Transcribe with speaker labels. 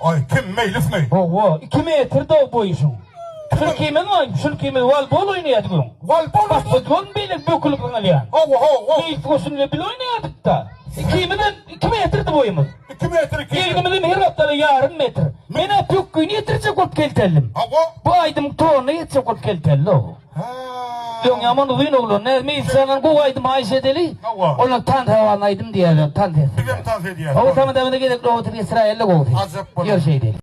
Speaker 1: Oý, kim, Meýlismi? Hawa, iki metr dow boýuşyň. Şul kimiň oý? Şul kimiň? Walbol oýnaýardy gürrüň. Walbol oýnaýardy? Basketbol beýle bökülip zyňylýar. Hawa, hawa. Meýlis goşun bilen bile oýnaýardyk-da. Ikimizem iki metrdi boýumyz. Iki metr, iki. Egnimizem her hepdede ýarym metr. Men-ä pökgini ýetirjek bolup kelteldim. Hawa. Bu aýdymyň tonuna ýetjek bolup kelteldi-ow. Ýoň ýaman uzyn oglan. Näzmi Ilkjandan gowy aýdym haýyş edeli. Hawa. Olar tans hawalyny aýdym diýerler. Tans etsinler. Bizem tans edýäs. Hawa tamadagyna gezek nobaty geçiräýeli gowusy. Ajap bolar. Ýör şeýdeli.